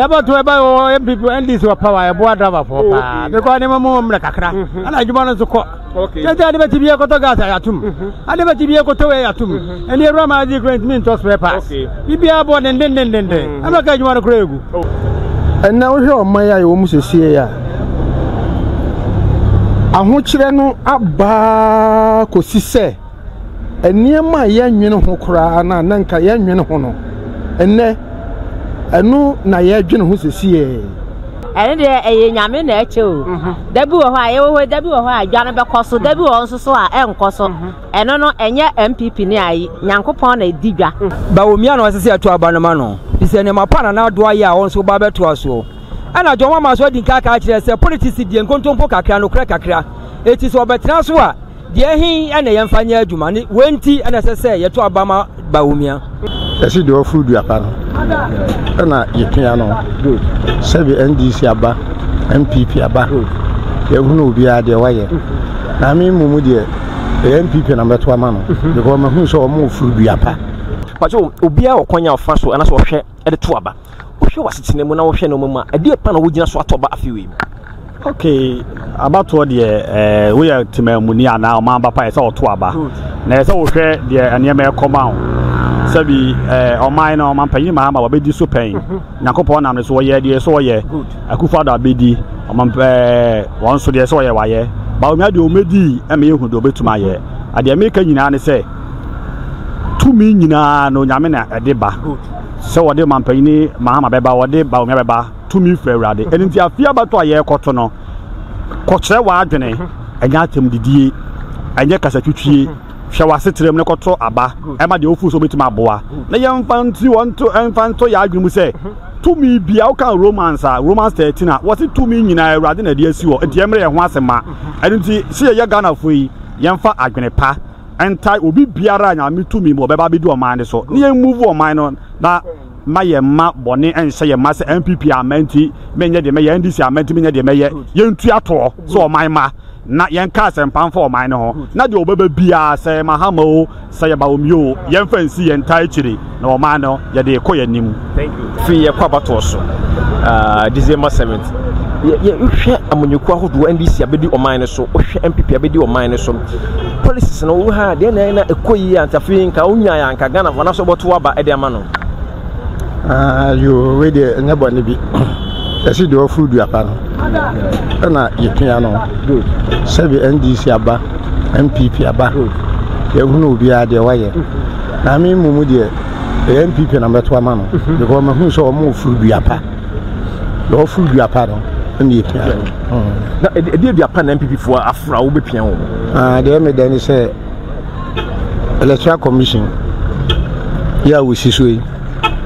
ɛbɔ to ɛbɔ wɔ npp ndc wɔ power ɛboa driverfoɔ paa because nneɛma mu mmerɛ kakra ɛna adwuma no nso kɔ kyɛnti ade bɛti bi ɛkɔtɔ gas a yɛatom ade bɛti bi ɛkɔtɔ wei yɛatom ɛne awura ma adi kura ntumi ntɔ spare parts biribiara bɔ dendendendenden ɛma ka adwuma no kora ɛgu ɛnna wohwɛ ɔman yi a yɛwɔ mu sesie yi a ahokyerɛ no abaa kɔsi sɛ nneɛma a yɛnnwene ho koraa anaa na nka yɛnnwene ho no, ɛnnɛ ɛno na yɛdwene ho sesieɛ. ɛno deɛ ɛyɛ nyame na ɛkyɛ o mhm. da bi wɔ hɔ a yɛwɔ hɔ da bi wɔ hɔ a adwa no bɛkɔ so da bi wɔ hɔ nso so a ɛnkɔ so mhm. ɛno no ɛnyɛ mpp ne ayi nyankopɔn na ɛdi dwa bawomia na ɔsɛ sɛ ɛto aba no ma no fi sɛ nneɛma pa na n'ado ayɛ a wɔn nso ba bɛtoa soɔ ɛna dwɔn mama so adi nka aka akyerɛ sɛ politics deɛ nkontompo kakra nokorɛ kakra ɛti sɛ ɔbɛtena so a Deɛ he na yɛmfa nyɛ adwuma ne wei nti na ɛsɛ sɛ yɛto aba ma Bawumia? Yɛse deɛ ɔforo dua pa no ɛna yɛpia no. Sɛbe NDC aba, NPP aba, yɛhunu obiara deɛ wayɛ. Na me mmom deɛ ɛyɛ NPP na mɛto ama no because mahunu sɛ ɔmo oforo dua pa. Pacho, obiara wɔ kwan a ɔfa so anaasɛ ɔhwɛ. de to aba. Wohwɛ w'asetena mu na wohwɛ nneɛma mu a, ɛdeɛ pa na wogyina so ato aba afe wei mu? Okay, abatoɔ deɛ ɛɛ eh, woyɛ temammuni anaa ɔman ba pa yɛ sɛ ɔto aba. Na yɛ sɛ wohwɛ deɛ nneɛma ɛkɔma ho. Sɛbi ɛɛ eh, ɔman no ɔman panyin maa ma wɔbɛdi so pɛn. Mm-hmm. Nyankopɔn nam ne so wɔyɛ deɛ so wɔyɛ. Akufo ado abɛdi ɔman pɛɛ eh, wɔn so deɛ so wɔyɛ wɔayɛ. Bawo mmea deɛ wɔmɛdi ɛmɛ ehu deɛ wɔbɛtumi ayɛ. Adeɛ meka nyinaa ne sɛ. tumi nyinaa no Onyame na ɛde ba sɛ wɔde ɔmampanyini Mahama bɛba wɔde Bawumia bɛba tumi firi Awurade ɛno nti afei abɛto a yɛrekɔto no kɔkyerɛ w'adwene ɛnyɛ atɛm didie ɛnyɛ kasatwitwie hwɛ w'asetere mu ne kɔto aba ɛma deɛ wofu so wobɛtumi aboa na yɛmfa nti wɔnto ɛmfa nto yɛ adwene mu sɛ tumi bia woka romans a romans 13 a wɔse tumi nyinaa Awurade na ɛde asi hɔ nti ɛmmerɛ yɛ ho ase ma ɛno nti sɛ yɛyɛ Ghanafoɔ yi yɛmfa adwene pa ntae obi biara a Nyame tumi mu ɔbɛba abedi ɔman no so na yɛn move ɔman no na ma yɛn mma bɔne nhyɛ yɛn mma sɛ NPP amma nti menyɛ deɛ mɛyɛ NDC amma nti menyɛ deɛ mɛyɛ yɛntua toɔ sɛ ɔman ma na yɛnka asɛmpa mfa ɔman no ho na deɛ ɔbɛba biara sɛ yɛ Mahama o sɛ yɛ Bawumia o yɛmfa nsi yɛn ntae akyire na ɔman no yɛde rekɔ yɛn anim firi yɛ kɔ abatoɔ so uh, december 7th yɛhwɛ amanyɔkuo ahodoɔ ndc abɛdi ɔman no so wohwɛ mpp abɛdi ɔman no so policies no wo ha deɛ na na ɛkɔ yie antafei nka wonya yɛ anka ghana fana so bɔto aba ɛde ama no ah, yo wei deɛ ɛnyɛ bɔne bi ɛsi deɛ ɔforo duapa no ɛna yɛpia no sɛbi ndc aba mpp aba yɛhunu obiara deɛ wayɛ Na me mmom deɛ ɛyɛ npp na mɛto ama no because mahunu sɛ wɔn ofuru dua pa na wɔfuru dua pa no ɛna epia no. na ɛdeɛ dua pa na npp foɔ afura wo bɛpia wɔn. Ah, deɛ me dɛ ne sɛ electoral commission yɛ a wɔsi so yi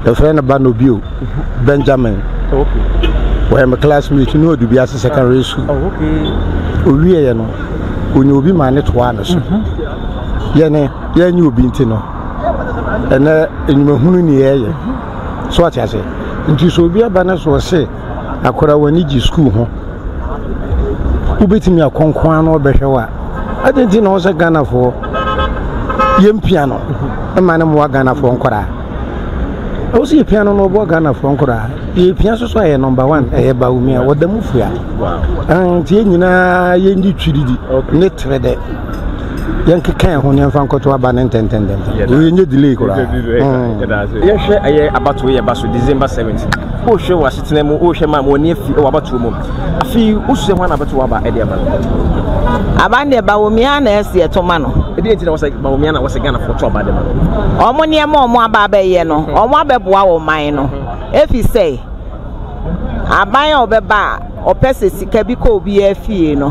yɛfrɛ no ba no bio mhm. benjamin wɔyɛ me classmate ne ɔde bi ase secondary school ɔwieɛ no ɔnya obi ma ne toaa no so mhm. yɛne yɛnyɛ obi nti no ɛnɛ enyimahunu ne yɛyɛ so ate ase nti sɛ obi aba no so ɔse akora w'ani gye sukuu ho wobɛtumi akɔnkoa no ɔbɛhwɛ wo a ade nti na ɔsɛ ghanafoɔ yɛmpia no ma no mmoa ghanafoɔ nkɔraa ɛwɔ sɛ yɛpia no no ɔboa ghanafoɔ nkɔraa yɛpia so so ayɛ nɔmba one ɛyɛ bawomi a wɔda mu fua nti yɛ nyinaa yɛndi twiridi ne tere dɛ yɛnkeka yɛn ho na yɛmfa nkɔto aba no ntɛntɛntɛm yɛnyɛ delay koraa mm. yɛhwɛ ɛyɛ abatoɔ yɛ ba so december 7th wohwɛ wɔ asetena mu wohwɛ ma ma wɔne afi wɔ abatoɔ mu afei wosuɛ ho ana abɛto aba ɛde aba aba ne ɛba wɔ mia na ɛsi ɛto ma no ɛdeɛ nti na wɔsɛ ba wɔ mia na wɔsɛ ghanafoɔ to aba de ma no ɔmo nneɛma ɔmo aba abɛyɛ no ɔmo abɛboa wɔ man no ɛfi sɛ aban a ɔbɛba a Ɔpɛ sɛ sika bi kɔ obiara fie no,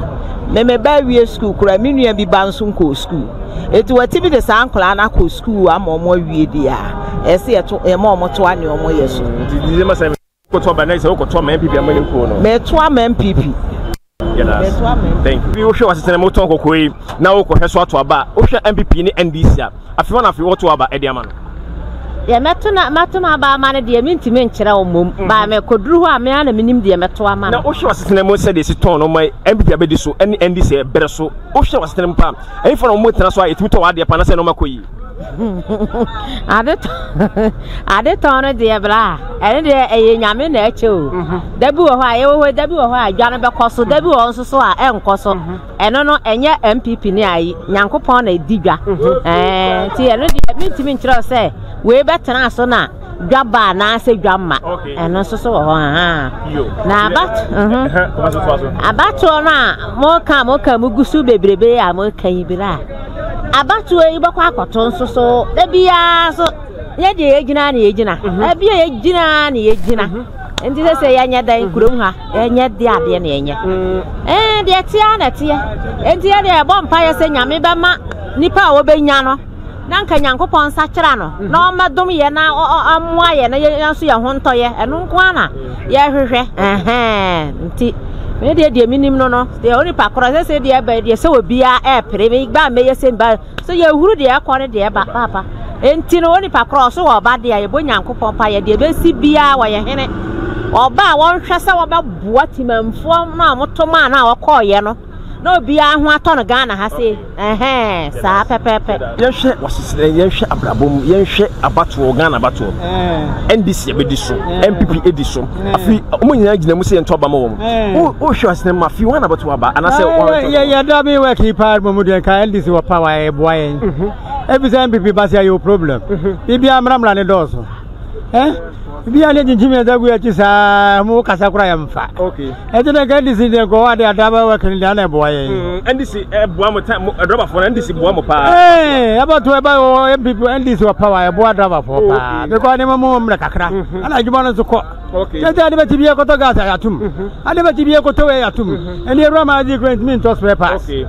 me me ba awie sukuu koraa, me nua bi ba nso nkɔɔ sukuu. Enti wɔatumi de saa nkwadaa no akɔ sukuu ama wɔn awie deɛ a, ɛsɛ sɛ yɛto, yɛma wɔn toa nea wɔyɛ so. Nti di ma sɛ wokɔtoa ba na sɛ wokɔtoa ma MPP ama ne kuo no. Metoa ma MPP. Yɛda ase. Thank you. Wohwɛ w'asetena mu wotɔn kɔkɔɔ yi na wokɔhwɛ so ato aba a, wohwɛ MPP ne NDC a, Afei hɔ na afei wɔto aba de ama no. Deɛ mɛto na mato m'aba ama no deɛ mentumi nkyerɛ wo mmom. Mhm. Baa mɛkɔduru hɔ a me ara na menim deɛ mɛto ama no. Na wohwɛ w'asetena mu sɛdeɛ ɛsi tɔn no ma MPP abɛdi so ne ɛndi sɛ ɛberɛ so. Wohwɛ w'asetena mu paa. Ɛhefa na wɔtena so a ɛtumi tɔ w'adeɛ paa na sɛ nneɛma kɔ yie. ade tɔn no deɛ bla ɛne deɛ ɛyɛ nyame na ɛkyɛ o mhm. da bi wɔ hɔ a yɛwɔ hɔ da bi wɔ hɔ a adwa no bɛkɔ so da bi wɔ hɔ nso so a ɛnkɔ so mhm. Ɛno no ɛnyɛ NPP ne ayi Nyankopɔn na ɛdi dwa ɛɛ ti ɛno deɛ mentumi nkyerɛw sɛ wei bɛtena so na dwa ba anaasɛ dwa mma ɛno nso so wɔ hɔ na abatoɔ no a moka moka mu gu so bebrebe a moka yi berɛ a abatoɔ yi bɛkɔ akɔto nso so da biara so yɛ deɛ yɛgyina na yɛgyina ɛbi a yɛgyina na yɛgyina nti sɛ sɛ yɛnyɛ dan kurom ha ɛnyɛ de adeɛ na ɛnyɛ ɛɛ deɛ ɛteɛ na ɛteɛ enti yɛ deɛ ɛbɔ mpa yɛ sɛ nyame bɛma nipa a wɔbɛnya no na nka nyankopɔn nsa kyerɛ no na ɔmɛdom yɛ na ɔmmoa yɛ na yɛn nso yɛn ho ntɔ yɛ ɛno nko ara na yɛhwehwɛ ɛhɛn nti me deɛ deɛ menim no no deɛ onipa korɔ sɛ sɛ deɛ ɛbɛ deɛ sɛ obiara ɛɛpere me ba mɛyɛ sɛ ba Sɛ yɛhuru deɛ ɛkɔ ne deɛ ɛba paapa nti no onipa korɔ ɔso wɔ ɔba deɛ a yɛbɔ nyankopɔn pa yɛ deɛ ɛbɛsi biara wɔyɛ hene ɔba a wɔnhwɛ sɛ wɔbɛboa timanfoɔ no a wɔto maa no a wɔkɔɔyɛ no na obiara ho atɔ no ghana ha se ɛhɛn saa pɛpɛpɛ yɛnhwɛ waseserɛ yɛnhwɛ abrabɔ mu yɛnhwɛ abatoɔ ghana abatoɔ ndc ɛbɛdi so npp ɛdi so afi wɔn nyinaa gyina mu sɛ yɛntɔ aba ma wɔn wohwɛ asene ma fi wɔn anabɛto aba anaasɛ yɛda bi wɔ kii paa mu deɛ nka ndc wɔ pa wa ɛboa yɛn ɛfisɛ mpp ba sɛ yɛwɔ problem biribiaa mmramra ne dɔɔso bia ne gyinkyimi ɛda gu akyi saa mo kasa kora yɛmfa ɛti na nka ndc deɛ nkɔwɔ ade ada bɛ wɛ kene deɛ ana ɛboa yɛ mm, ndc ɛboa mo ta drɔba fɔ na ndc boa mo paa ɛɛ ɛbɔ to ɛba wɔ mpp ndc wɔ pawa ɛboa drɔba fɔ paa bɛkɔ ade mo mo mmerɛ kakra mm-hmm. ana adwuma no nso kɔ kyɛnti ade bɛti bi ɛkɔtɔ gas ayatum mm-hmm. ade bɛti bi ɛkɔtɔ wɛ ayatum ɛni mm-hmm. ɛwura ma adi kura ntumi ntɔ so ɛpa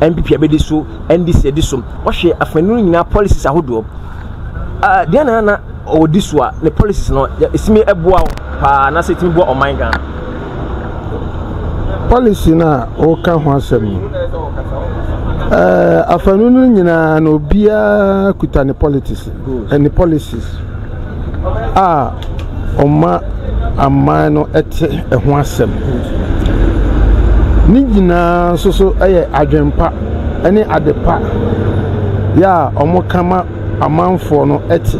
NPP abɛdi so, NDC adi so. Wɔhwɛ afanu no nyinaa policies ahodoɔ. Uh, deɛ na na ɔdi so a ne policies no ɛsimi ɛboa wo paa anaasɛ ɛtumi boa ɔman Ghana. Policy no a wɔka ho asɛm no, uh, afanu no nyinaa na obiara kuta ne politics. ne policies a ɔma aman no te ho asɛm. Ne nyinaa nso so yɛ adwempa ne adepa yɛ a wɔka ma amanfoɔ no te.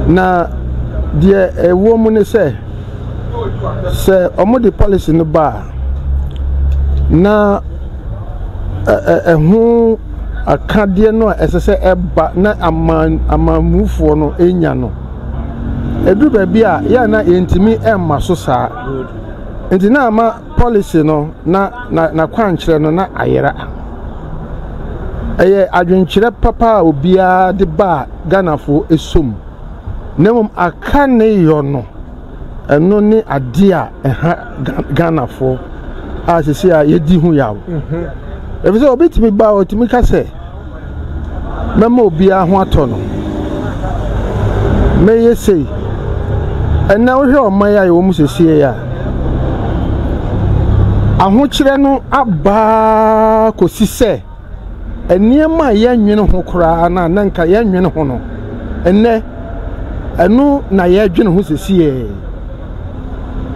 Na deɛ ɛwɔ mu ne sɛ, sɛ wɔde policy no ba a, na ɛho akadeɛ no a ɛsɛ sɛ ɛba na aman amanmufoɔ no nya no. Ɛduru baabi a, yɛ na yɛntumi mma so saa. Nti na ama policy no na n'akwankyerɛ no na ayera. Ɛyɛ adwenkyerɛ papa a obiara de baa Ghanafoɔ som. Na mmom aka ne yɔ no. Ɛno ne adeɛ a ɛha Ghanafoɔ a sisi a yɛdi ho yaw. Ebi sɛ obi tumi ba otumi ka sɛ mɛma obiara ho atɔ no. Mɛyɛ sei. Ɛnna wohwɛ ɔman a yɛwɔ mu sisi a ahokyerɛ no abaa kɔsi sɛ. nneɛma a yɛnnwene ho koraa anaa na nka yɛnnwene ho no, ɛnnɛ ɛno na yɛdwene ho sesiɛ.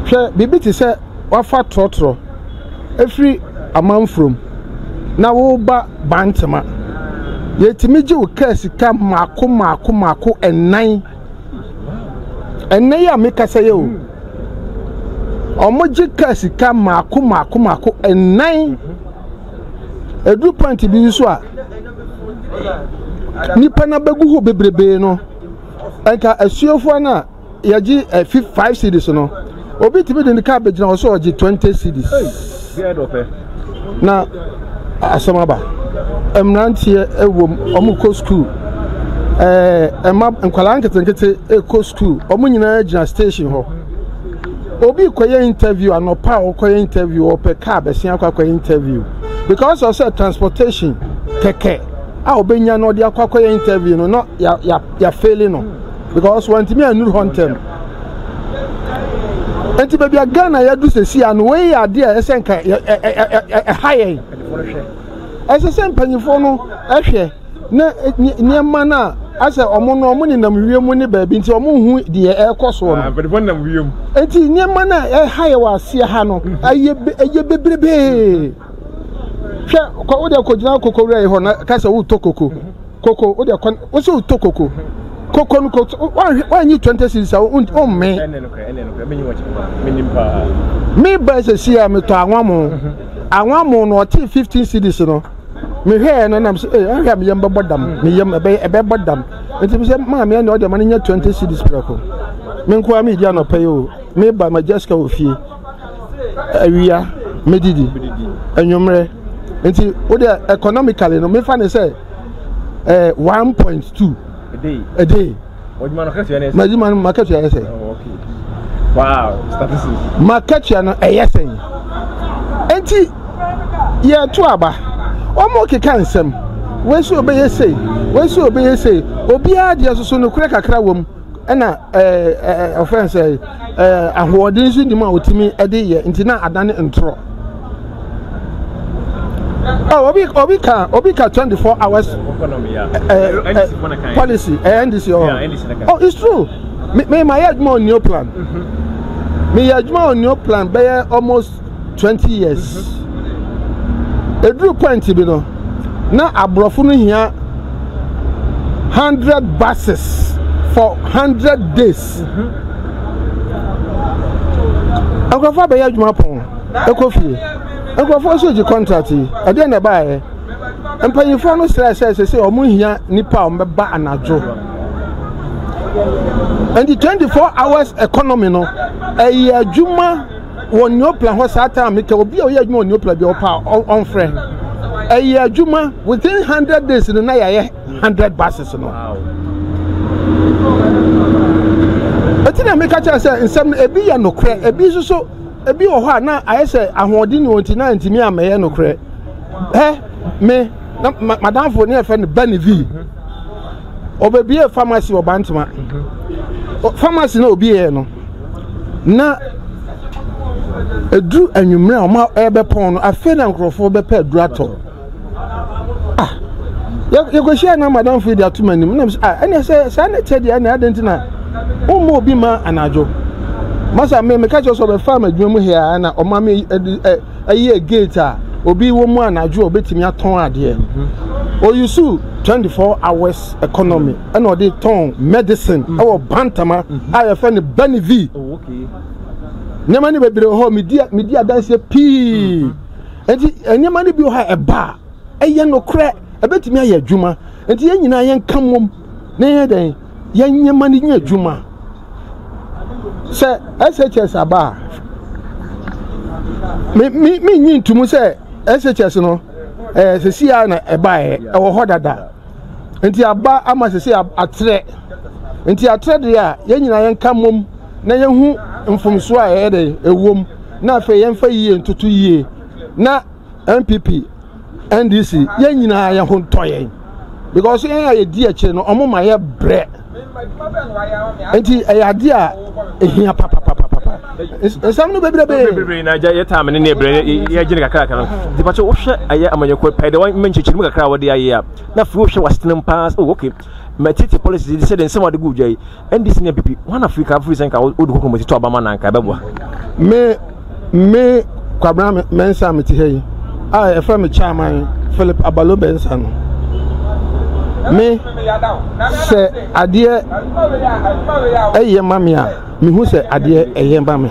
Hwɛ biribi te sɛ wafa trɔtrɔ ɛfiri amanfurom na woba bantema. Yɛtumi gye wo kaa sika mmaako mmaako mmaako ɛnan. Ɛnnɛ yi a mekasa yɛ o, wɔgye kaa sika mmaako mmaako mmaako ɛnan. Edu point bi so a, nnipa no abɛgu hɔ bebrebee no, nka asuafoɔ no a yɛgye eh, fif five cedis no, obi tumi de ne kaa bɛgyina hɔ sɛ ɔgye twenty cedis na asɛm aba. Mmeranteɛ wom, wɔkɔ sukuu, ɛɛ ɛma nkwadaa nketenkete kɔ sukuu, wɔn nyinaa gyina station hɔ. Obi kɔyɛ interview anɔpa a ɔkɔyɛ interview ɔpɛ car bɛsen akɔ akɔyɛ interview because of sɛ transportation kɛkɛ a ɔbɛnya no ɔde akɔ akɔyɛ interview no na ya ya yafeeli no because wantumi anuru hɔ ntɛm nti baabi a Ghana yɛadu sɛsi ano wei yɛ adeɛ a ɛsɛ nka ɛha yɛn ɛsɛ sɛ mpanyinfoɔ no ɛhwɛ na nneɛma no a asɛ wɔn no wɔn nenam wiem mu ne baabi nti wɔn hu deɛ ɛrekɔ soɔ no. Mpanyinfoɔ nenam wiem. Eti nneɛma no a ɛha yɛ wɔ aseɛ ha no mhm. ɛyɛ ɛyɛ bebrebee. Hwɛ kɔ wo deɛ kɔ gyina koko wura yi hɔ na ka sɛ wotɔ koko mhm. koko wo deɛ kɔ wo sɛ wotɔ koko mhm. koko no koko wɔanyi twenty series a wɔmmee. Me ba sɛ si a metɔ anwamo anwamo no ɔte fifteen series no. mehwɛɛ no nam sɛ ee eh, ahwɛ a me yam bɛbɔ dam me yam ɛbɛyɛ ɛbɛbɔ dam nti me sɛ maame ɛna ɔde ma no nyɛ twenty cedis prɛko me nko ara medi anɔpa yi o meba ma jessica wɔ fie awia medidi anwummerɛ nti wode economically no mefa ne sɛ eh, one point two a day Ɔdwuma no katua ne. N'adwuma no makatua yɛ sɛn? Oh, okay. Wow, statistics. Makatua no ɛyɛ sɛn? Enti yɛto aba. Wɔn keka nsɛm. Wɔsi obɛyɛ sei, wɔsi obɛyɛ sei. Obiara deɛ soso no kura kakra wɔm. Ɛna ɛɛ ɛɛ ɔfɛn sɛ ɛɛ ahoɔden nso nim a otumi ɛde yɛ nti na adane ntorɔ. Oh, obi obi ka obi ka 24 hours uh, uh, policy uh, NDC oh. Yeah, NDC oh it's true me me my yɛ adwuma on new plan mm-hmm. me yɛ adwuma on new plan bɛyɛ almost 20 years mm-hmm. eduru point bi no na aborɔfo no hia 100 buses for 100 days mm-hmm. nkurɔfo abɛyɛ adwuma pɔn. kɔ fie. Nkurɔfoɔ nso gye kɔntrat yi. Ɛdeɛn na ɛbaeɛ? Mpanimfoɔ no srɛɛ sɛ sese wɔn hia nnipa a wɔbɛba anadwo. Nti 24 hours economy no, ɛyɛ adwuma wɔ Neoplan hɔ saa time kɛ obi a ɔyɛ adwuma wɔ Neoplan bi a ɔpa ɔmfrɛ. Ɛyɛ adwuma within 100 days no na yɛayɛ 100 buses no. Ɛti na meka kyerɛ sɛ nsɛm no ebi yɛ nokorɛ, ebi nso so Ebi wɔ hɔ a na ayɛ sɛ ahoɔden ni wɔn ti na ntumi amɛyɛ nokorɛ. Hɛ me na madamfo ne ɛfɛ no Banivi. Ɔbɛbie famasi wɔ Bantama. Famasi na obieɛ no na ɛduru anwummerɛ a wɔn a ɛbɛpɔn no afei na nkurɔfoɔ bɛpɛ aduru atɔ. ah yɛkɔhyiae na madamfo yi de ato m'anim nam sɛ ah ɛnna sɛ saa ne tɛ deɛ ɛnna adɛn nti na womma obi ma anadwo masa me meka kyerɛ sɛ ɔbɛfaa m'adwuma mu hea na ɔma me ɛyɛ gate a obi wɔ mu anadwo a ɔbɛtumi atɔn adeɛ ɔyusu 24 hours economy ɛna ɔde tɔn medicine ɛwɔ bantama a yɛfɛ no banivi nneɛma no bebree hɔ medi adanseɛ pii Enti nneɛma no bi wɔ hɔ a ɛba a, ɛyɛ nokorɛ, ɛbɛtumi ayɛ adwuma. Enti yɛn nyinaa yɛnka mmom na yɛyɛ dɛn? Yɛnyɛ ma no nyɛ adwuma. Sɛ SHS aba a, menyi ntomu sɛ SHS no ɛɛ eh, sisi a na ɛbaeɛ ɛwɔ hɔ dada. Enti aba ama sisi atrɛ. Enti atrɛ deɛ a, yɛn nyinaa yɛnka mmom na yɛhu mfomsoɔ a ɛyɛ dɛn ɛwom. na afei yɛmfa yie ntoto yie na npp ndc yɛn nyinaa yɛn ho ntɔ yɛn because yɛn a yɛdi akyire no wɔn ma yɛ brɛ nti ɛyɛ adeɛ a ehia papapapapa nsɛm no bebrebe. bebrebe na agya yɛ taame ne ne ɛbrɛ yɛgyene kakraka no nti pakyɛ wohwɛ ɛyɛ amanyɔkuo pɛɛ dɛ wɔn nkyekyere mu kakra a wɔde ayɛ a na afei wohwɛ wasetenam paa sɛ oh okay matiti policy sɛ de nsɛm a wɔde gu dwa yi ndc ne app wọn na firi ka firi sɛ nka odu koko mo ti tɔ aba ma na nka ɛbɛboa. me me kwabena mɛnsa me ti ha yi a ɛfɛ me chairman philip abalo bɛnsa no me sɛ adeɛ ɛyɛ ma me a mehu sɛ adeɛ ɛyɛ ma me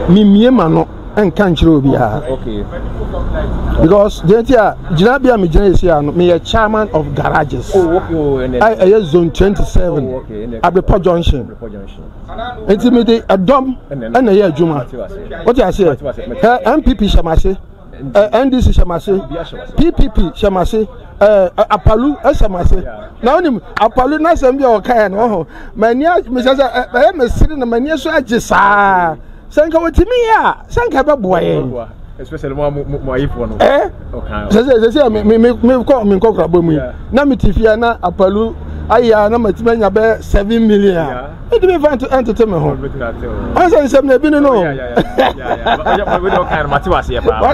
memie ma no nka nkyerɛ obiara because deɛ nti a gyina bi a megyina yɛ si a no meyɛ chairman of garages oh, oh, a ɛyɛ zone twenty seven oh, abepɔ junction nti mede ɛdɔm ɛna ɛyɛ adwuma wote aseɛ ɛ npp hyɛ m ase ɛ ndc hyɛ m ase ppp hyɛ m ase ɛ apalu hyɛ m ase na wonim apalu n'asɛm bi a ɔkaeɛ no ɔho m'ani mesɛ sɛ ɛyɛ mesere na m'ani so agye saa sɛ nka wɔtumi yɛ a sɛ nka ɛbɛboa yɛn especially mo mo mo ayefoɔ no. ɛɛ sɛsɛ sɛsɛ mi mi mi mi kɔ mi nkɔ kurabɔ mu yi na mi ti fia na apalu aya na ma ti ma nya bɛ seven million a edi mi fa ntete mi ho ɔn sɛ nsɛm na ebi ni no.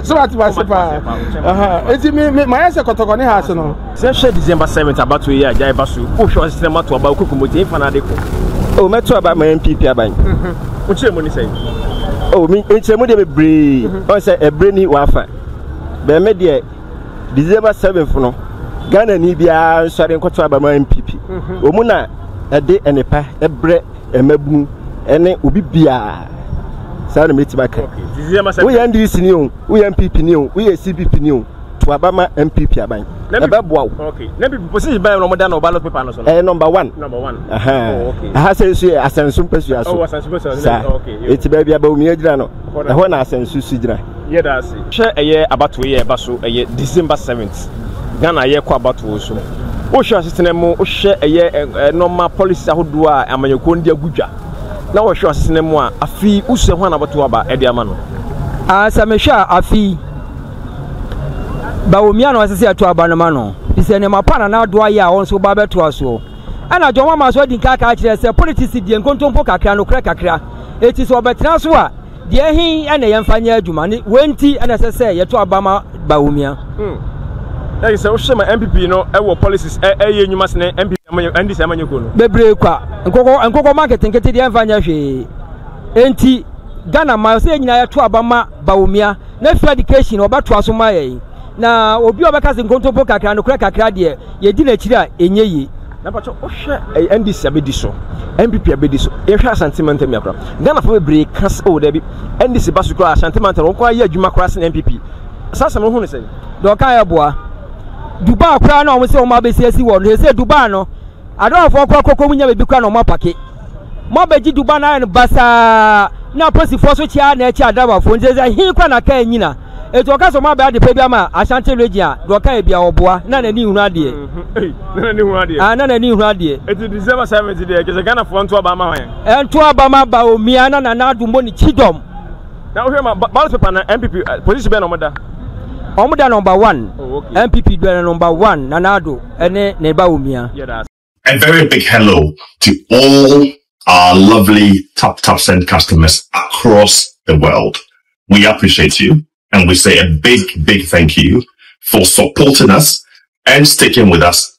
sɛ wate wase paa eti mi mi ma yɛ sɛ kɔtɔkɔ ne ha ase no. Sɛ hwɛ December seventh abatoɔ yi a gyae ba so o hwɛ ɔsetena mato aba okoko mo tie mfa n'ade ko. O oh, mɛto aba ma NPP aban. Wo kyerɛ mu ne sɛn? O oh, me nkyerɛ mu deɛ bebree. Ɔn mhm. sɛ ɛbrɛ ni wafa. Bɛmɛ deɛ December seventh no Ghana ni biara nsɔre nkɔto aba ma NPP. Mhm. Wɔn na ɛde ɛnepa ɛbrɛ ɛmɛbunu ɛne obi biara saa na mɛtumi aka. Woyɛ NDC ni o, woyɛ NPP ni o, woyɛ CPP ni o. to aba ma npp aban ɛbɛboa wo. okay na npp posi ban na wɔn da na ɔba lɔt pepa no so no. ɛyɛ nɔmba one. nɔmba one. oh okay. aha sɛ nso yɛ asɛnso mpɛsua so. ɔwɔ oh, asɛnso mpɛsua so. saa okay. eti baabi abawumia gyina no ɛhɔ na asɛnso si gyina. yɛ da ase. hwɛ ɛyɛ abatoɔ yɛ ɛba so ɛyɛ december seventh ghana yɛ kɔ abatoɔ so wohwɛ asetena mu wohwɛ ɛyɛ ɛnɔma policies ahodoɔ a amanyɔkuo no de agu dwa na wɔhwɛ asetena mu a afei wosua ho anabatoɔ aba ɛde ama no. Ah, sɛ mehwɛ a afei Bawumia na ɔsɛ sɛ ɛto aba no ma no efisɛ nneɛma pa na n'ado ayɛ a wɔn nso ba bɛtoa soɔ. Ɛna John Mahama nso adi nka kaa kyerɛ sɛ politics deɛ nkontompo kakra nokorɛ kakra eti sɛ ɔbɛtena so a deɛ ɛhe ɛna yɛmfa nyɛ adwuma ne wei nti ɛna ɛsɛ sɛ yɛto aba ma Bawumia. Hmm. Ɛyɛ sɛ wohyɛ ma MPP no ɛwɔ policies ɛyɛ nnwuma sene MPP ama nyɛ NDC ama nyɛ kuo no. Bebree kwa nkokɔ nkokɔ ma nketenkete deɛ ɛmfa nyɛ hwee enti Ghana ma sɛ yɛn nyinaa yɛto aba ma Bawumia. ne free education wɔbɛtoa so ma yɛn na obi a ɔbɛka se nkontompo kakra nokorɛ kakra deɛ yɛdi n'akyiri a ɛnyɛ yie. na mpakyɛ wohwɛ ɛyɛ ndc abɛdi so npp abɛdi so yɛhwɛ asante mantam yi akora ghana fo bebree ka sɛ o daabi ndc ba so koraa asante mantam wɔn koraa yɛ adwuma koraa sene npp saa asɛm no ho ne sɛn deɛ ɔka yɛ boa dubai koraa na wɔn sɛ wɔn abɛsi asi wɔ no sɛ dubai no Adowafoɔ kɔ akɔkɔ mu nya baabi kora na wɔn apake. Mo abɛgye duba no ayɛ no basaa na aposifoɔ so kyea na ɛkyɛ adowafoɔ nti sɛ he kora na kaa nyina. Eti wɔka sɛ wɔn abɛ adepa bi ama Ashanti region a deɛ ɔka yɛ bia ɔboa na n'ani nhunu adeɛ. Na n'ani hunu adeɛ. Ah na n'ani hunu adeɛ. Eti December 7th deɛ kyɛ sɛ Ghanafoɔ nto aba ama wɔn. Ɛnto aba ma ba omia na nana adombo ne kyidɔm. Na wohwɛ ma ballot paper no NPP position bɛn na wɔn da? Wɔn da number one. Oh, okay. NPP da number one Nana Addo ne ne ba Omia. A very big hello to all our lovely Tap Tap Send customers across the world. We appreciate you and we say a big, big thank you for supporting us and sticking with us